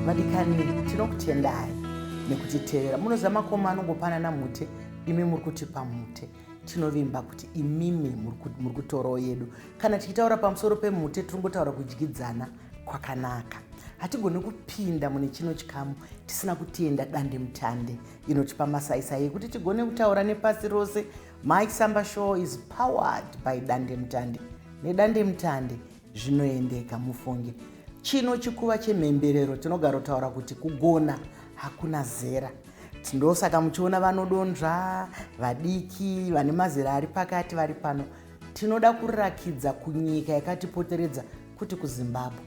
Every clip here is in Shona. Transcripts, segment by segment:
vadikani tinokutendai nekutitevera munoziva makoma anongopanana mute imi muri kutipa mute tinovimba kuti imimi muri kutorawo yedu kana tichitaura pamusoro pemute tiri ngotaura kudyidzana kwakanaka hatigoni kupinda mune chino chikamu tisina kutenda dande mutande inotipa masaisai ekuti tigone kutaura nepasi rose my samba show is powered by dandemutande nedandemutande zvinoendeka mufunge chino chikuva chemhemberero tinogarotaura kuti kugona hakuna zera ndosaka muchiona vanodonzva vadiki vane mazera ari pakati vari pano tinoda kurakidza kunyika yakatipoteredza kuti kuzimbabwe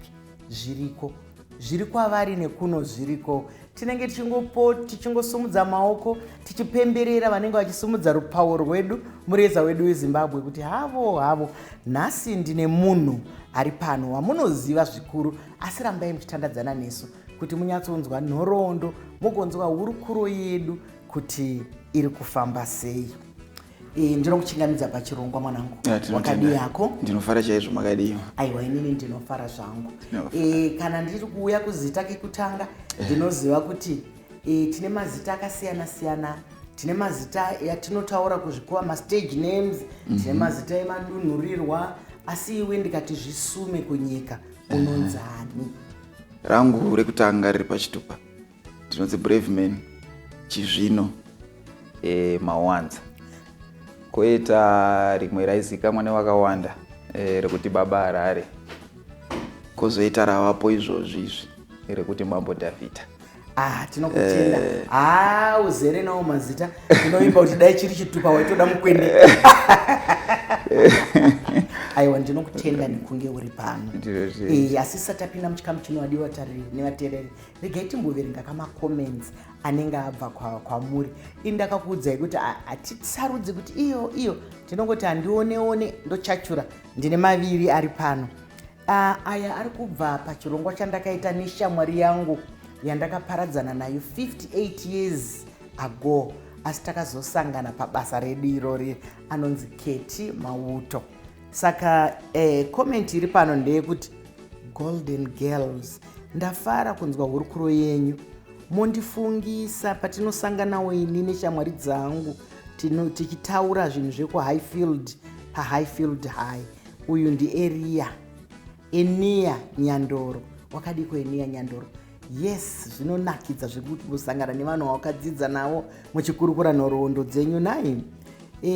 zviriko zviri kwavari nekuno zviriko tinenge tichingopo tichingosumudza maoko tichipemberera vanenge vachisumudza rupawo rwedu mureza wedu wezimbabwe kuti havo havo nhasi ndine munhu ari pano wamunoziva zvikuru asi rambai muchitandadzana nesu kuti munyatsonzwa nhoroondo mugonzwa hurukuro yedu kuti iri kufamba sei Eh, ndinokuchingamidza pachirongwa mwanangu Yeah, tinotenda. wakadii yako ndinofara chaizvo makadii aiwa inini ndinofara zvangu Ndinofara. e, kana ndiri kuuya kuzita kekutanga ndinoziva kuti e, tine mazita akasiyana siyana tine mazita yatinotaura kuzvikuva mastage names tine mazita emadunhurirwa asi iwe ndikati zvisume kunyika unonzani rangu rekutanga riri pachitupa ndinonzi brave man chizvino e, mawanza koita rimwe raizikamwa nevakawanda e, rekuti baba harare kozoita ravapo izvozvi izvi rekuti mambo davhidha Ah, tinokutenda eh. ah, uzere nawo mazita tinoimba kuti dai chiri chitupa waitoda mukwende aiwa ndinokutenda nekunge uri pano eh, asi satapinda muchikamu chinowadiwa tariri nevatereri regai timboverenga kamacomments anenge abva kwamuri kwa ini ndakakuudzai kuti hatisarudzi kuti iyo iyo tinongoti handioneone ndochachura ndine maviri ari pano uh, aya ari kubva pachirongwa chandakaita neshamwari yangu yandakaparadzana nayo 58 years ago asi takazosangana pabasa redu irori anonzi keti mauto saka eh, comment iri pano ndeyekuti golden girls ndafara kunzwa hurukuro yenyu mondifungisa patinosanganawo ini neshamwari dzangu tichitaura zvinhu zvekuhighfield pahighfield high uyu ndieria Enia Nyandoro. Wakadiko Enia Nyandoro? Yes, zvinonakidza zvekuti kusangana nevanhu vawakadzidza navo muchikurukura nhoroondo dzenyu nai. E,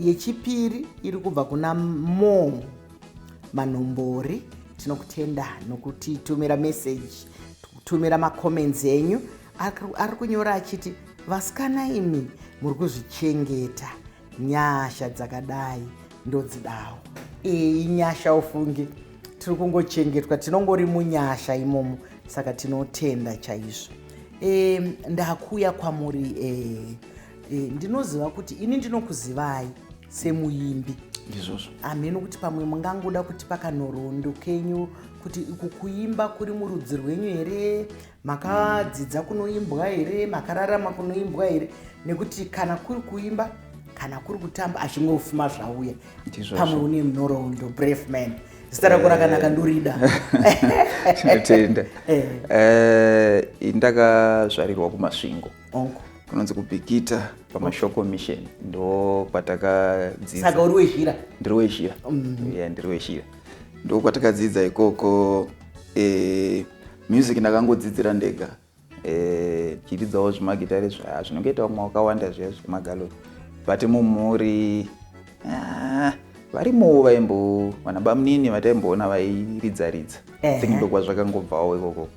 yechipiri iri kubva kuna Mo Manhombori. Tinokutenda nokutitumira message, kutumira macomments enyu. Ari kunyora achiti vasikana imi muri kuzvichengeta nyasha dzakadai ndodzidawo iyi nyasha ufunge tiri kungochengetwa tinongori munyasha imomo saka tinotenda chaizvo e, ndakuya kwamuri e, e, ndinoziva kuti ini ndinokuzivai semuimbi ndizvozvo hameno kuti pamwe mungangoda kuti pakanhorondo kenyu kuti uku kuimba kuri murudzi rwenyu here makadzidza kunoimbwa here makararama kunoimbwa here nekuti kana kuri kuimba kana kuri kutamba achingofuma zvauya pamwe une munorondo brave man zita rako rakanaka ndorida tinotenda eh. eh, ndakazvarirwa kumasvingo kunonzi kubikita pamashoko mission ndo kwatakadzidzaaka uri wezhira ndiri wezhira mm. ndiri wezhira ndo kwatakadzidza ikoko eh, Music ndakangodzidzira ndega eh, ndichiridzawo zvimagitare zvaya zvinongoita vamwe wakawanda zviya zvemagaloni but mumhuri ah, varimowo vaimbo vana bamunini vataimboona vairidza ridza Ehe. think ndokwazvakangobvawo ikoko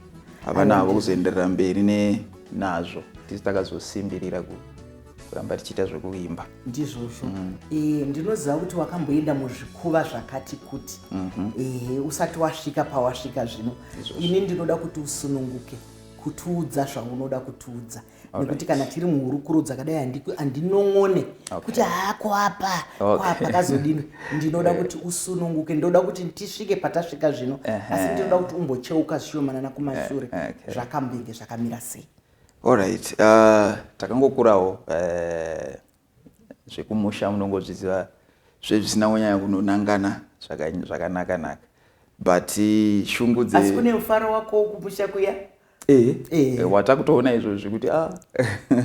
havana havo kuzoenderera mberi ne nazvo tisi takazosimbirira ku kuramba tichiita zvekuimba ndizvozvo mm. e, ndinoziva kuti wakamboenda muzvikuva zvakati kuti mm -hmm. e, usati wasvika pawasvika zvino ini ndinoda kuti usununguke kutiudza zvaunoda kutiudza nekuti kana tiri muhurukuro dzakadai handinong'one kuti haa kwapa kwapa kazodini ndinoda kuti usununguke ndoda kuti tisvike patasvika zvino asi ndinoda kuti umbocheuka zvishomanana kumashure zvakambenge zvakamira sei Alright, uh, takangokurawo uh, zvekumusha munongozviziva zvezvisina kunyanya kunonangana zvakanaka naka but uh, shungu dze asi kune mufaro wako wokumusha kuya eh, eh. eh watakutoona izvozvi kuti ah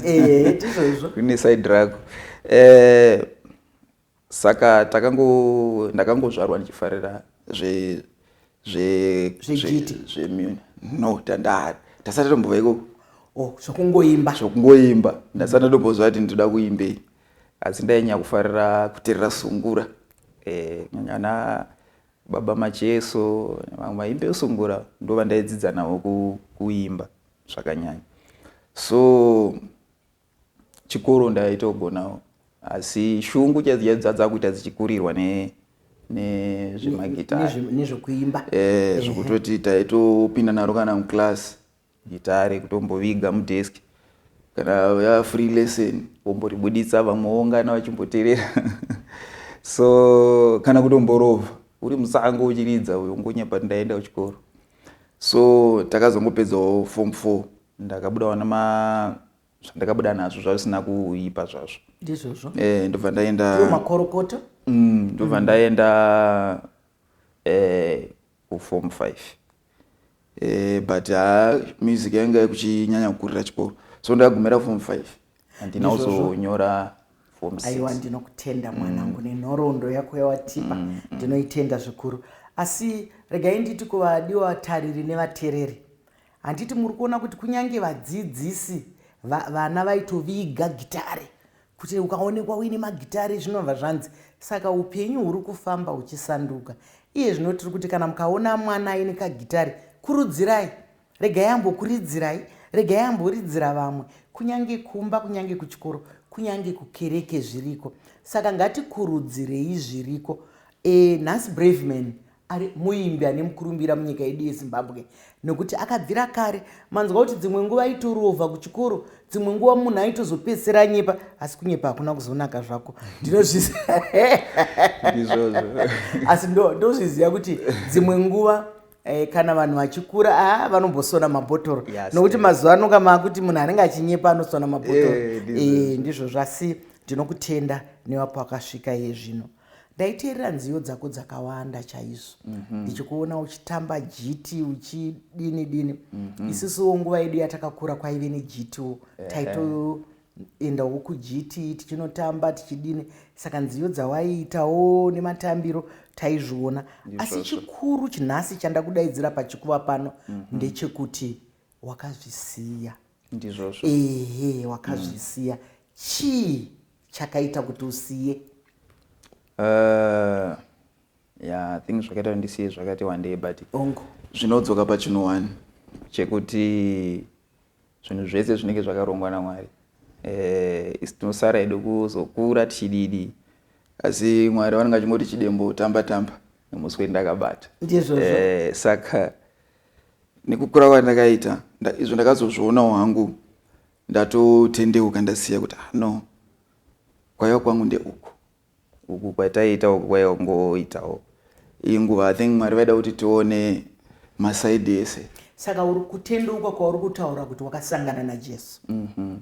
eh, eh, kune side rako eh, Saka takango ndakangozvarwa ndichifarira zve zve zvejiti zve no tandari tasati tombova ikoko oh zvokungoimba zvokungoimba ndasati ndombozva kuti ndinoda kuimbei asi ndainyanya kufarira kuterera sungura eh nyana baba macheso vamwe vaimbe sungura ndovandayidzidza navo kuimba zvakanyanya so chikoro ndaitogonawo asi shungu dzadzakuita dzichikurirwa ne nezvemagitarinezvekuimba eh, zvekutoti taitopinda naro kana muclass gitare kutomboviga mudesk kana ya free lesson womboribuditsa vamwe woungana vachimboterera so kana kutomborova uri musango uchiridza uyo ngonya pati ndaenda kuchikoro so takazongopedzawo form four ndakabudawo nema zvandakabuda nazvo zvavisina kuipa zvazvo ndizvozvo eh, ndobva ndaenda makorokota mm, ndobva mm. ndaenda eh, kuform eh, five eh, but ha ah, music yanga kuchinyanya kukurira chikoro so ndakagumira form five handina kuzonyora aiwa ndinokutenda mwanangu mm. nenhoroondo yako yawatipa mm, mm. ndinoitenda zvikuru asi regai nditi kuvadiwa tariri nevatereri Handiti muri kuona kuti kunyange vadzidzisi va, vana vaitoviga gitare kuti ukaonekwa uine magitare zvinobva zvanzi saka upenyu huri kufamba huchisanduka iye zvino tiri kuti kana mukaona mwana aine kagitare kurudzirai regai ambokuridzirai regai amboridzira vamwe kunyange kumba kunyange kuchikoro kunyange kukereke zviriko saka ngatikurudzirei zviriko e, nhasi braveman ari muimbi ane mukurumbira munyika yedu yezimbabwe nekuti akabvira kare manzwa kuti dzimwe nguva aitorovha kuchikoro dzimwe nguva munhu aitozopedzisira anyepa asi kunyepa hakuna kuzonaka zvako ndinozviziaasi ndozviziva kuti dzimwe nguva eh, kana vanhu vachikura a ah, vanombosona mabhotoro nokuti mazuva ano ka maakuti munhu anenge achinyepa anosona mabhotoro eh, eh, ndizvo zvasi ndinokutenda newapo akasvika iye zvino ndaiteerera nziyo dzako dzakawanda chaizvo mhm. ndichikuona uchitamba jiti uchidini dini mhm. isusuwo nguva yedu yatakakura kwaive nejitiwo taitoendawo kujiti tichinotamba tichidini saka nziyo dzawaiitawo nematambiro taizviona asi chikuru chinhasi chandakudaidzira pachikuva pano mhm. ndechekuti wakazvisiya ndizvozvo ehe wakazvisiya mm. chii chakaita kuti usiye uh, eh, yeah, think zvakaita kuti ndisiye zvakati wandei but ongo zvinodzoka pachinhu one chekuti zvinhu zvese zvinenge zvakarongwa namwari eh, isi tinosara edu kuzokura tichididi asi mwari vanenge vachingoti chidembo tamba tamba nemusi wedu ndakabata ndizvozvo eh, saka nekukura kwandakaita izvo ndakazozvionawo hangu ndatotendeuka ndasiya kuti ah, no kwaiva kwangu ndeuku uku kwataiita uku kwaiva kungoitawo iyi nguva i think mwari vaida kuti tione masaidi ese saka uri kutendeuka kwauri kutaura kuti wakasangana najesu mm -hmm.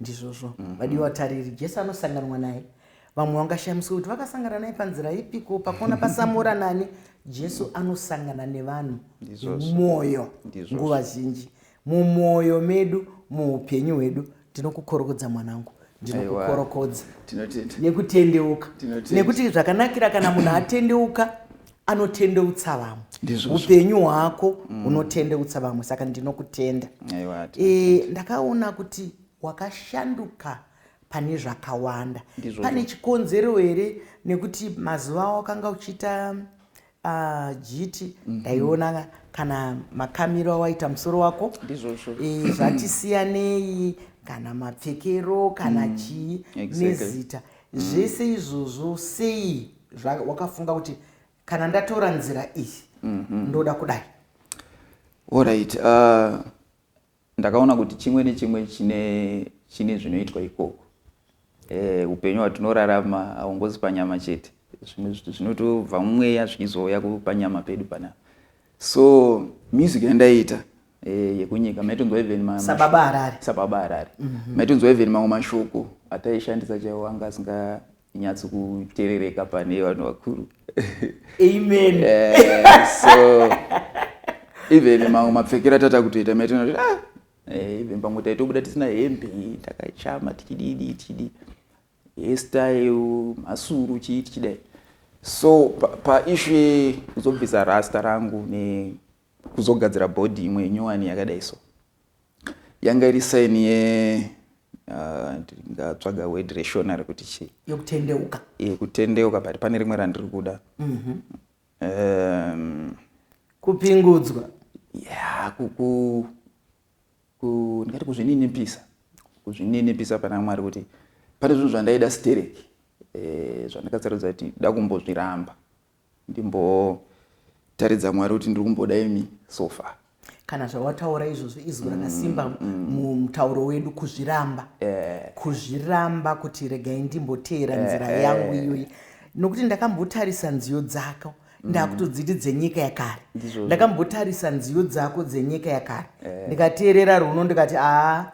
Ndizvozvo vadiwa vatariri, Jesu anosanganwa naye. Vamwe vangashamiswa kuti vakasangana naye panzira ipiko, pakona pasamora nani. Jesu anosangana nevanhu Ndizvozvo. nemumwoyo Ndizvozvo. nguva zhinji mumwoyo medu muupenyu hwedu ndinokukorokodza mwanangu ndinokukorokodza Tinotenda. nekutendeuka Tinotenda. nekuti zvakanakira kana munhu atendeuka anotendeutsa vamwe upenyu hwako mm. unotendeutsa vamwe saka ndinokutenda e, ndakaona kuti wakashanduka pane zvakawanda pane chikonzero here nekuti mazuva awo akanga uchiita ah, jiti mm -hmm. ndaiona kana makamiro awaita musoro wako ndizvozvo e, zvatisiyanei kana mapfekero kana mm. chii exactly. nezita mm. zvese izvozvo sei zvawakafunga kuti kana ndatora nzira iyi mm -hmm. ndoda kudai orit uh, ndakaona kuti chimwe nechimwe chine chine zvinoitwa ikoko eh, upenyu hwatinorarama haungozi panyama chete zvimwe zviti zvinotobva mumweya zvichizouya kupanyama pedu panapa so music yandaiita eh, yekunyika maitonzwa even sababa harare sababa harare mm -hmm. maitonzwa even mamwe mashoko ataishandisa chaiwo anga asinga nyatso kuterereka pane vanhu vakuru amen yeah, so even mamwe mapfekero atata kutoita maitona ah, eh, even pamwe taitobuda tisina hembe takachama tichididi tichidii hairstyle masuru chii tichidai so paishu pa yekuzobvisa rasta rangu nekuzogadzira bhodhi imwe nyowani yakadai so yanga iri saini ye ah, ndingatsvaga word reshona rekuti chii yokutendeuka yekutendeuka but pane rimwe randiri kuda mhm. um, kupingudzwa ya kuku ndingati kuzvininipisa kuzvininipisa pana mwari kuti pane zvinhu zvandaida stereki eh, zvandakasarudza kuti da kumbozviramba ndimbotaridza mwari kuti ndiri kumboda imi so far kana zvawataura izvozvo izwi rakasimba mm, mm. mumutauro wedu kuzviramba eh. kuzviramba kuti regai ndimboteera eh, nzira eh. yangu iyoyi nokuti ndakambotarisa nziyo dzako mm. ndakutodziti dzenyika yakare ndakambotarisa nziyo dzako dzenyika yakare ndikateerera runo ndikati aa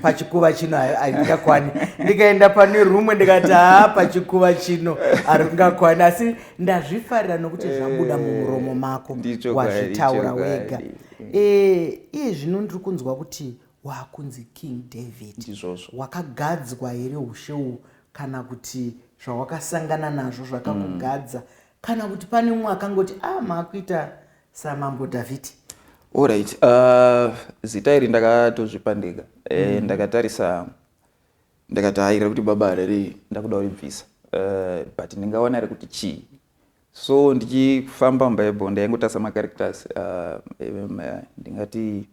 pachikuva chino handingakwani ndikaenda pane rumwe ndikati haa pachikuva chino haringakwani asi ndazvifarira nokuti eh, zvabuda mumuromo mako wazvitaura wega eh, iye zvino ndiri kunzwa kuti waakunzi king david wakagadzwa here ushe uhu kana kuti zvawakasangana nazvo zvakakugadza mm. kana kuti pane umwe akangoti a ah, maakuita samambo Dhavhidhi. Alright, uh, zita iri ndakatozvipa ndega eh, mm. ndakatarisa ndakataira kuti baba hareri ndakuda uribvisa uh, eh, but ndingaona ri kuti chii so ndichifamba mubible ndaingotasa macaracters uh, eh, ndingati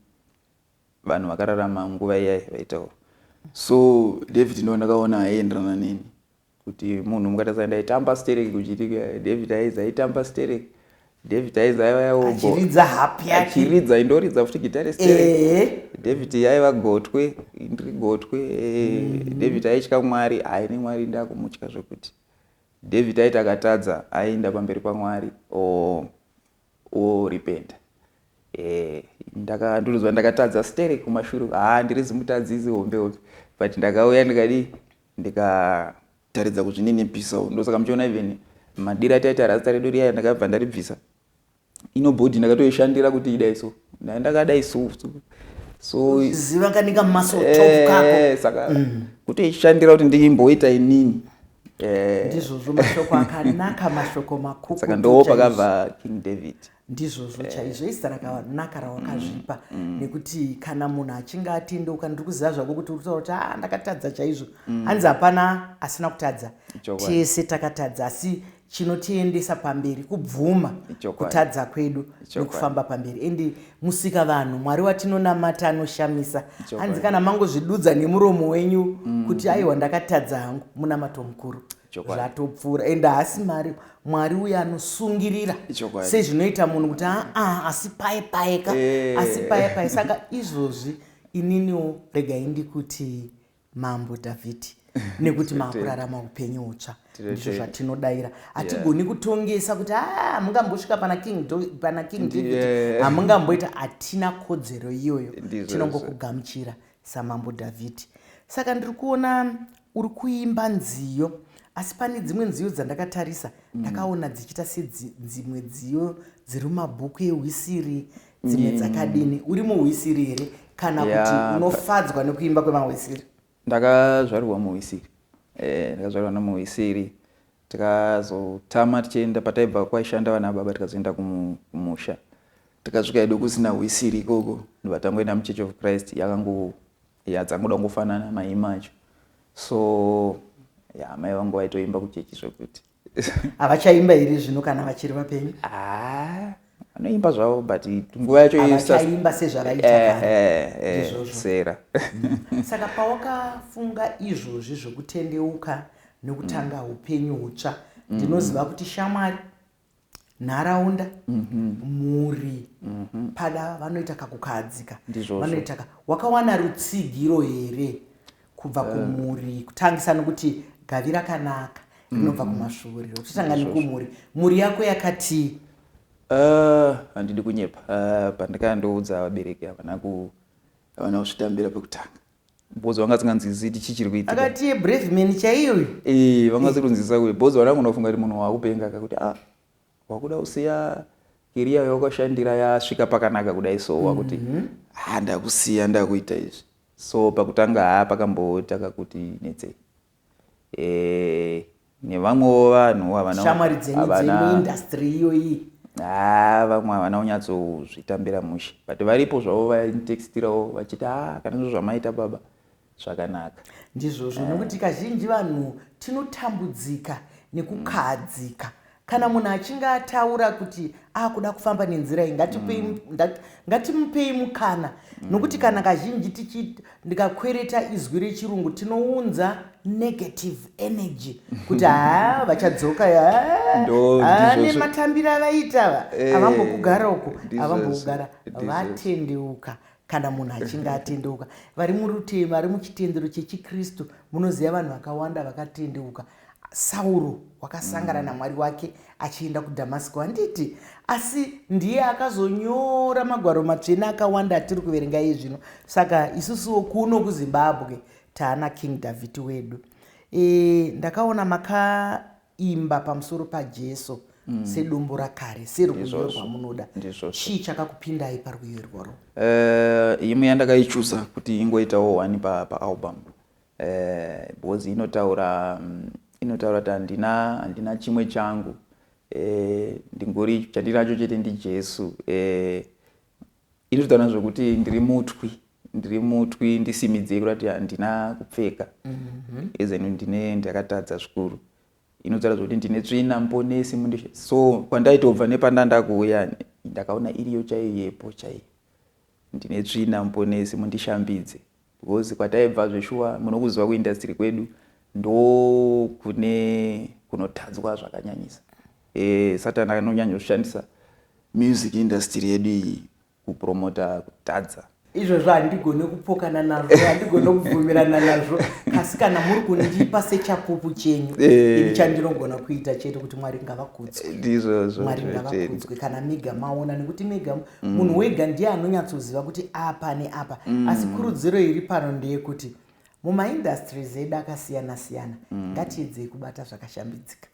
vanhu vakararama nguva iyai vaitaura so david ndo ndakaona aienderana neni kuti munhu mukatadza ndaitamba sterek kuchitika eh, david aiza aitamba sterek david aiza aiva yaoachiridza hapi yake achiridza indoridza futi gitare sterek eh. david yaiva gotwe ndiri gotwe eh, mm. david aitya mwari aine mwari ndakumutya zvekuti david aita akatadza aienda pamberi pamwari o oh. worepenta eh, ndaka ndinonzwa ndakatadza stere kumashure haa ndiri zimutadzisi hombe hombe but ndakauya ndikadii ndikataridza kuzvininipisa ndosaka muchiona even madira taita rasta redu riya ndakabva ndaribvisa inobody ndakatoishandira kuti idai so naye ndakadai so so ziva kanika muscle eh, top kako saka mm. kuti ishandira kuti ndimboita inini eh. ndizvozvo mashoko akanaka mashoko makuku saka ndo pakabva king david ndizvozvo eh. chaizvo izita rakanaka rawakazvipa mm, mm. nekuti kana munhu achinge atendeuka ndiri kuziva zvako kuti uri kutaura kuti a ah, ndakatadza chaizvo mm. hanzi hapana asina kutadza tese takatadza asi chinotiendesa pamberi kubvuma kutadza kwedu nekufamba pamberi and musika vanhu mwari watinonamata anoshamisa hanzi kana mangozvidudza nemuromo wenyu mm. kuti aiwa ndakatadza hangu munamato mukuru zvatopfuura and haasi mari mwari uye anosungirira sezvinoita munhu kuti aa ah, ah, asi paye payeka eh. asi paye paye saka izvozvi ininiwo regai ndikuti mambo dhavhidhi nekuti maakurarama upenyu utsva ndizvo zvatinodaira hatigoni kutongesa kuti haa ah, mungambosvika pana king pana king david hamungamboita hatina kodzero iyoyo tinongokugamuchira samambo dhavhidhi saka ndiri kuona uri kuimba nziyo asi pane dzimwe nziyo dzandakatarisa mm. ndakaona dzichiita sedzimwe dziyo dziri mumabhuku ehwisiri dzimwe mm. dzakadini uri muhwisiri here kana yeah, kuti unofadzwa nekuimba kwemahwisiri ndakazvarirwa muhwisiri eh, ndakazvarirwa e, nemuhwisiri tikazotama tichienda pataibva kwaishanda vana baba tikazoenda kumusha tikasvika edu kusina hwisiri ikoko ndivatangoenda muchurch of christ yakangu yadzangoda kungofanana maima acho so ya mai vangu vaitoimba kuchechi zvekuti havachaimba here zvino kana vachiri vapenyu ah, vanoimba zvavo but nguva yacho havachaimba sezvavaiitaizvozvosera eh, eh, eh, saka pawakafunga izvozvi zvokutendeuka nokutanga mm. upenyu hutsva mm. ndinoziva kuti shamwari nharaunda mhm. mhuri mhm. pada vanoita kakukahadzika vanoita wakawana rutsigiro here kubva eh. kumhuri kutangisa nokuti gavi rakanaka rinobva mm. kumasvuuriro tichitanga nekumhuri mhuri yako yakati eh, handidi kunyepa eh, pandikaya ndoudza vabereki havana havana kuzvitambira pekutanga bhozi vanga singanzwisisi ti chii chiri kuitika akati brave man chaiyoyo vanga sikunzwisisa kuyo bhozi vana kunofunga kuti munhu waakupenga kakuti a ah, Wakuda kusiya career yawakashandira yasvika pakanaka kudai so wakuti mm -hmm. ha ndakusiya ndakuita izvi so pakutanga ha pakamboita kakuti netsei e, nevamwewo vanhu havanashamwari dzenyu dzemuindastry iyoyi ha vamwe havana kunyatsozvitambira mushe but varipo zvavo vainitextirawo vachiti ha kana zvo zvamaita baba zvakanaka ndizvozvo eh. nokuti kazhinji vanhu tinotambudzika nekukahadzika kana munhu achinge ataura kuti akuda kufamba nenzira iyi ngatimupei mm. mukana mm. nokuti kana kazhinji tichi ndikakwereta izwi rechirungu tinounza negative energy kuti haa vachadzoka nematambiro avaita ava eh, avambokugara uku avambokugara vatendeuka kana munhu achinge atendeuka vari murutema ari muchitendero chechikristu munoziva vanhu vakawanda vakatendeuka sauro wakasangana mm. namwari wake achienda kudhamasiko handiti asi ndiye akazonyora magwaro matsvene akawanda atiri kuverenga iye zvino saka isusuwo kuno kuzimbabwe taana king dhavhidhi wedu e, ndakaona maka imba pamusoro paJesu mm. sedombo rakare serwiyo rwamunoda chii chakakupindai parwiyo irworwo uh, imwe yandakaichuza kuti ingoitawo one paalbum pa uh, eh, because inotaura um, inotaura kuti handina handina chimwe changu uh, ndingori chandinacho chete ndijesu uh, Ini zvitaura zvekuti ndiri mutwi ndiri mutwi ndisimidzei kurati handina kupfeka mhm. ezenu ndine ndakatadza zvikuru inotaura zvekuti ndine tsvina mponesi mundishe so kwandaitobva nepandandakuuya ndakaona iriyo chaiyo yepo chaiyo ndine tsvina mponesi mundishambidze Because kwataibva zveshuwa munokuziva kuindustry kwedu ndokune kunotadzwa zvakanyanyisa. E, Satan anonyanya kushandisa music industry yedu iyi kupromota kutadza. izvozvo handigone kupokana nazvo handigone kubvumirana nazvo asi kana muri kundipa sechapupu chenyu eh. ini chandinogona kuita chete kuti mwari ngavakudzwe eh, ndizvozvo mwari ngavakudzwe kana mega maona nekuti mega mm. munhu wega ndiye anonyatsoziva kuti apa neapa mm. asi kurudziro iri pano ndeyekuti mumaindustries edu akasiyana siyana mm. ngatiedzei kubata zvakashambidzika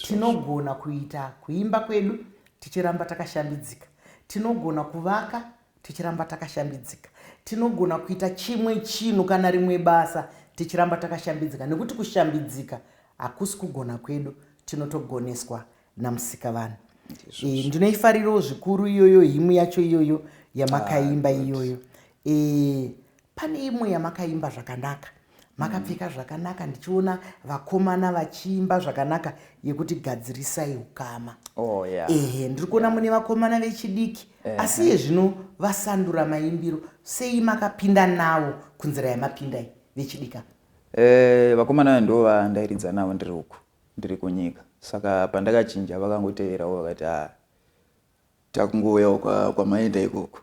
tinogona kuita kuimba kwedu tichiramba takashambidzika tinogona kuvaka tichiramba takashambidzika tinogona kuita chimwe chinhu kana rimwe basa tichiramba takashambidzika nekuti kushambidzika hakusi kugona kwedu tinotogoneswa namusikavanhu e, ndinoifarirawo zvikuru iyoyo himu yacho iyoyo yamakaimba ah, iyoyo e, pane imwe yamakaimba zvakanaka makapfeka zvakanaka ndichiona vakomana vachiimba zvakanaka yekuti gadzirisai ukama oh, yeah. ehe ndiri kuona mune vakomana vechidiki eh, asi iye zvino vasandura maimbiro sei makapinda navo kunzira yamapindai vechidika eh, vakomana vayo ndo vandairidza navo ndiri uku ndiri kunyika saka pandakachinja vakangoteverawo vakati a ah, takungouyawo kwamaenda kwa ikoko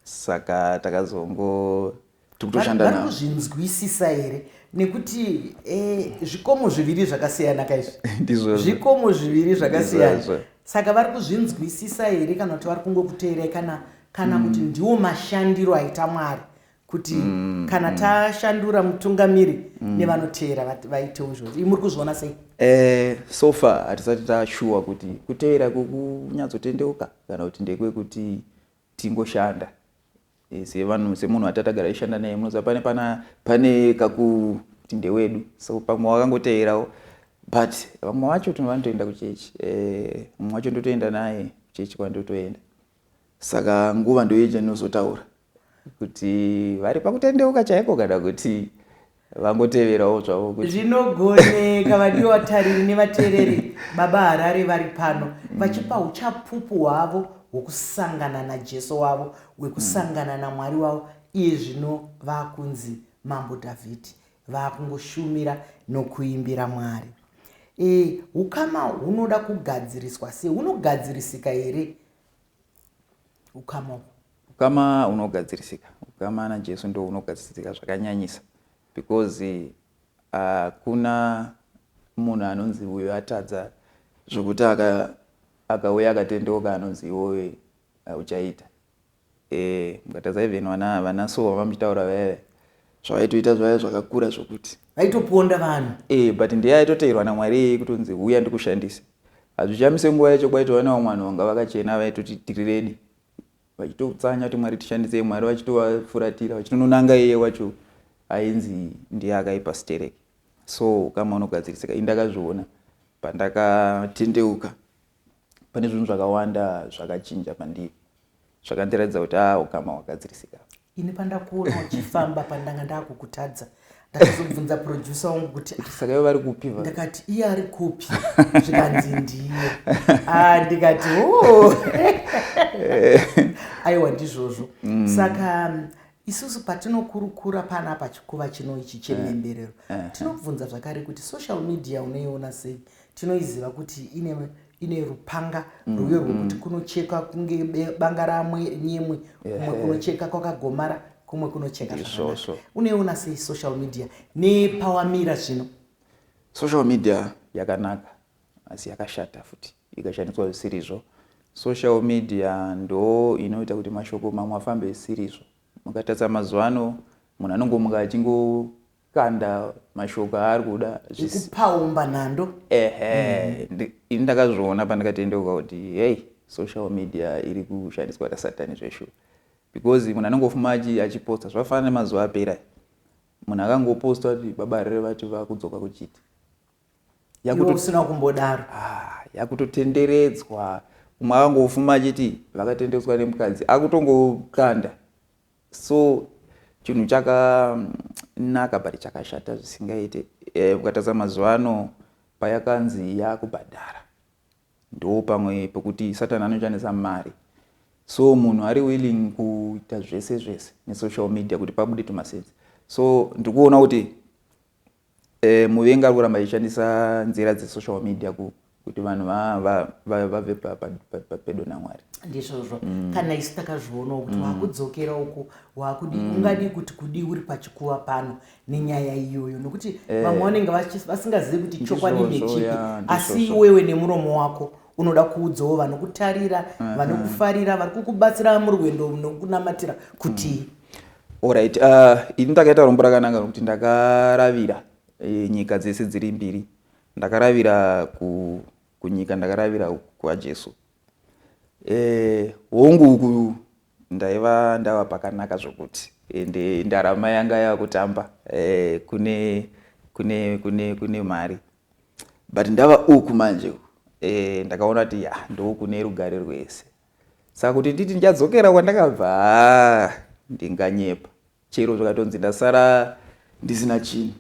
saka takazongo tikutoshandavari kuzvinzwisisa here nekuti eh, zvikomo zviviri zvakasiyana kaizvi ndizvo zvikomo zviviri zvakasiyana saka vari kuzvinzwisisa here kana kuti vari kungokuteerai kana kana mm. kuti ndiwo mashandiro aita mwari kuti mm, kana mm. tashandura mutungamiri mm. nevanoteera vaitewo izvozvo muri kuzviona sei eh, so far hatisati tashuwa kuti kuteera kukunyatsotendeuka kana kuti ndekwekuti tingoshanda eh, sevanhu semunhu atatagara ishanda naye munoziva pane pana pane kakuti ndewedu so pamwe wakangoteerawo but vamwe vacho tino vanotoenda kuchechi eh, mumwe wacho ndotoenda naye kuchechi kwandotoenda Saka nguva ndoiyo chandinozotaura kuti vari pakutendeuka chaiko kana kuti vangoteverawo zvavo kuti zvinogoneka vadiwa vatariri nevateereri baba harare vari pano vachipa uchapupu hwavo hwokusangana najesu wavo hwekusangana namwari wavo iye zvino vakunzi mambo dhavhidhi Vakungoshumira nokuimbira Mwari. E, ukama hunoda kugadziriswa sei? Hunogadzirisika here ukama uhu? Ukama hunogadzirisika. Ukama naJesu ndo hunogadzirisika zvakanyanyisa because hakuna uh, munhu anonzi uyo atadza zvokuti akauya akatendeuka anonzi iwoyo eh, uchaita Eh mukatadza even vana vana so vamuchitaura veve zvavaitoita zvaive zvakakura zvokuti vaitoponda vanhu eh but ndiye aitoteerwa namwari iyeye kutonzi huya ndikushandise hazvichamise nguva yacho kwaitova vana vamwe vanhu vanga vakachena vaitoti tiriredi vachitotsanya kuti mwari tishandisei mwari vachitovafuratira vachitononanga iye wacho ainzi ndiye akaipa stereki so kama unogadzirisika indakazviona pandakatendeuka pane zvinhu zvakawanda zvakachinja pandiri zvakandiratidza kuti a ah, ukama hwagadzirisika ini pandakuona uchifamba pandanga ndakukutadza ndakazobvunza producer wangu kuti ah, saka ivo vari kupi ndakati iye ari kupi zvikanzi ndiye ah, ndikati oh. aiwa ndizvozvo mm. saka Isusu patinokurukura panapa chikuva chino ichi chemhemberero eh, eh, eh. tinobvunza zvakare kuti social media unoiona sei tinoiziva kuti ine ine rupanga mm, rwuyo rwekuti mm. kunocheka kunge banga ramwe nyemwe kumwe kunocheka kwakagomara kumwe kunocheka zvakanaka unoiona sei social media nepawamira zvino social media yakanaka asi yakashata futi ikashandiswa zvisirizvo social media ndo inoita kuti mashoko mamwe afambe zvisirizvo mukatarisa mazuva ano munhu anongomuka achingokanda mashoko aari kuda zvikupaumba nhando ehe mm. ini ndakazviona pandikatendeuka kuti hei social media iri kushandiswa nasatani zveshuwa because munhu anongofuma achiposta zvafanana nemazuva apera munhu akangoposta kuti baba rere vati vakudzoka kuchiti usina kumbodaro ah, yakutotenderedzwa umwe akangofuma achiti vakatenderedzwa nemukadzi akutongokanda so chinhu chakanaka but chakashata zvisingaite eh, ukatadza mazuva ano payakanzi yakubhadhara ndo pamwe pekuti satani anochanisa mari so munhu ari willing kuita zvese zvese nesocial media kuti pabude tumasenzi so ndikuona kuti Eh, muvengi ari kuramba achishandisa nzira dzesocial media ku, kuti vanhu va- va- va- vave pa- pa- pa- pa- pedo namwari ndizvozvo kana isu takazvionawo kuti wakudzokera uku wakudi ungadii kuti kudii uri pachikuva pano nenyaya iyoyo nokuti vamwe vanenge vachi- vasingazivi kuti chokwadi Ndizvozvo, ndechipi ya, asi ndizvozvo. iwewe nemuromo wako unoda kuudzawo vanokutarira vanokufarira vari kukubatsira murwendo nokunamatira kuti Alright, uh, ini ndakaita rombo rakananga rokuti ndakaravira e, nyika dzese dziri mbiri. Ndakaravira ku, kunyika, ndakaravira kwaJesu. E, hongu uku ndaiva ndava pakanaka zvokuti ende ndarama yanga yava kutamba e, kune, kune, kune, kune mari but ndava uku manje e, ndakaona kuti ya ndokune rugare rwese Saka kuti nditi ndichadzokera kwandakabva haa ndinganyepa. Chero zvikatonzi ndasara ndisina chinhu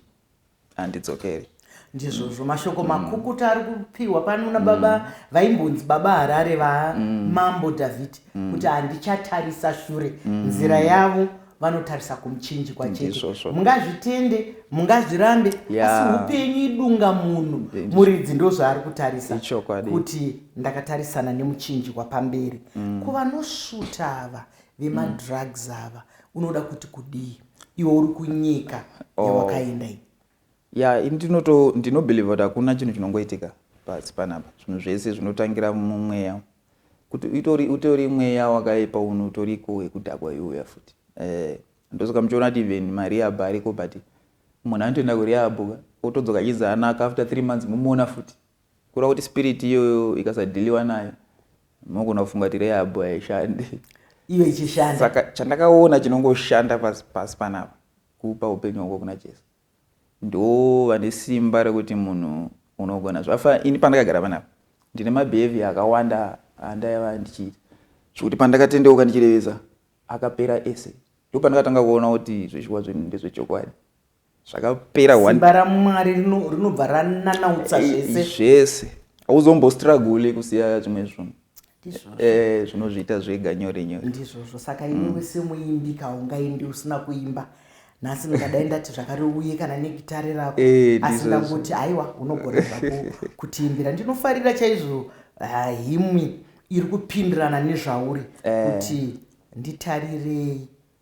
handidzokeri. Ndizvozvo mashoko mm. makukuta ari kupiwa pano nababa mm. vaimbonzi baba Harare va mm. Mambo Dhavhidhi mm. kuti handichatarisa shure mm. nzira yavo vanotarisa kumuchinjikwa chete mungazvitende mungazvirambe asi upenyu idunga munhu muridzi ndozvaari kutarisa kuti ndakatarisana nemuchinjikwa pamberi mm. kuvanosvuta ava vemadrugs mm. ava unoda kuti kudii iwe uri kunyika oh. yawakaenda iyi ya ini ndinobelieve kuti hakuna chinhu chinongoitika pasi panapa zvinhu zvese zvinotangira mumweya Kuti utori, utori mweya wakaipa uno utoriko wekudhakwa iuya futi. Eh, ndosaka muchiona kuti even mariabha ariko but munhu anotoenda kuriabho ka otodzoka achinzi anaka after three months momuona futi. Kureva kuti spirit iyoyo ikasadhiliwa nayo mogona kufunga kuti reabho haishandi. Iyo ichishanda. Saka chandakaona chinongoshanda pasi pasi panapa kupa upenyu hwako kuna Jesu. ndo vane simba rekuti munhu unogona zvafa ini pandakagara panapa ndine mabehavior akawanda andaiva ndichiita zvekuti pandakatendeuka ndichirevesa akapera ese ndo pandakatanga kuona kuti zveshuwa zvinhu ndezvechokwadi zvakapera simba ramwari rinobva rananautsa zvese zvese hauzombostragule kusiya zvimwe zvunhu eh, zvinozviita zvega nyore nyore ndizvozvo saka mm. iniwe semuimbi kaungaindi usina kuimba nhasi ndingadai ndati zvakariuye kana negitare rako eh, asi ndangoti haiwa unogona zvako kutiimbira ndinofarira chaizvo ah, himwi iri kupindirana nezvauri eh. kuti nditarirei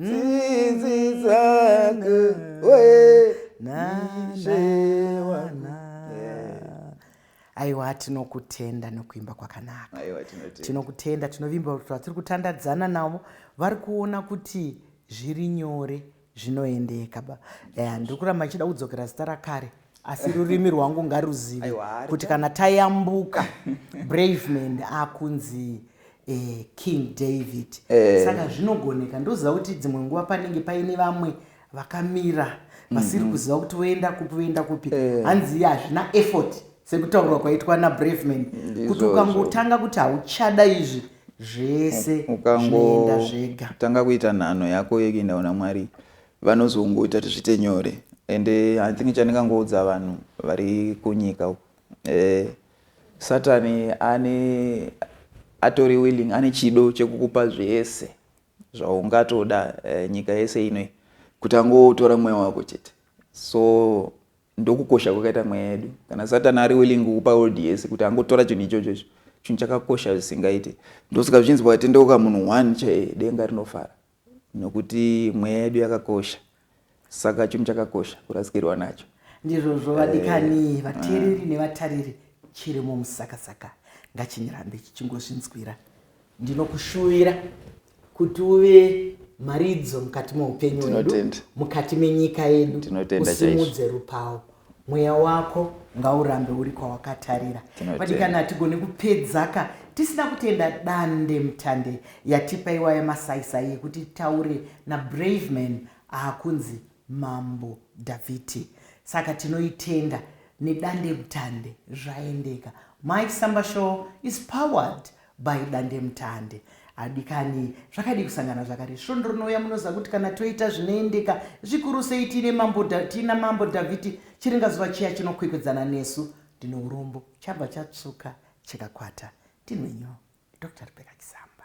tsitsi dzangu we nashewana aiwa tinokutenda nokuimba kwakanaka tinokutenda tinovimba kuti vatiri kutandadzana navo vari kuona kuti zviri nyore zvinoendeka ba eh, ndiri kuramba achida kudzokera zita rakare asi rurimi rwangu ngaruzive kuti kana tayambuka braveman akunzi eh, king david eh. saka zvinogoneka ndoziva kuti dzimwe nguva panenge paine vamwe vakamira vasiri mm -hmm. kuziva kuti voenda kupi voenda kupi eh. hanzi iye hazvina effort sekutaurwa kwaitwa nabraveman kuti ukangotanga kuti hauchada izvi zvese zvinoenda zvega tanga kuita nhano yako yekuenda kuna mwari vanozongoita kuti zviite nyore and eh, i think chandingangoudza vanhu vari kunyika uku eh, satani ane atori willing ane chido chekukupa zvese zvaungatoda eh, nyika yese inoi kuti angotora mweya wako chete so ndokukosha kwakaita mweya yedu kana satani ari willing kukupa world yese kuti angotora chinhu ichocho icho chinhu chakakosha zvisingaite ndosika zvinzi wakatendeuka munhu one chaiye denga rinofara nokuti mweya yedu yakakosha saka chinhu chakakosha kurasikirwa nacho ndizvozvo vadikani eh, vateereri mm. nevatariri chirimo musakasaka ngachinyirambe chichingozvinzwira ndinokushuvira kuti uve mharidzo mukati meupenyu wedu mukati menyika yedu usimudze rupawo mweya wako ngaurambe uri kwawakatarira vadikana hatigone kupedzaka tisina kutenda dande mutande yatipa iwa yamasaisai yekuti taure nabraveman aakunzi mambo dhavhiti saka tinoitenda nedande mutande zvaendeka mike samba show is powered By dandemutande. Adikani, zvakadii kusangana zvakare? Svondo rinouya munoziva kuti kana toita zvinoendeka, zvikuru sei tiine mambo, tiina mambo Dhavhidhi, chiringazuva chiya chinokwekwedzana nesu. Ndine urombo, chabva chatsvuka chikakwata. Ndinwenyiwo. Doctor Rebecca Chisamba.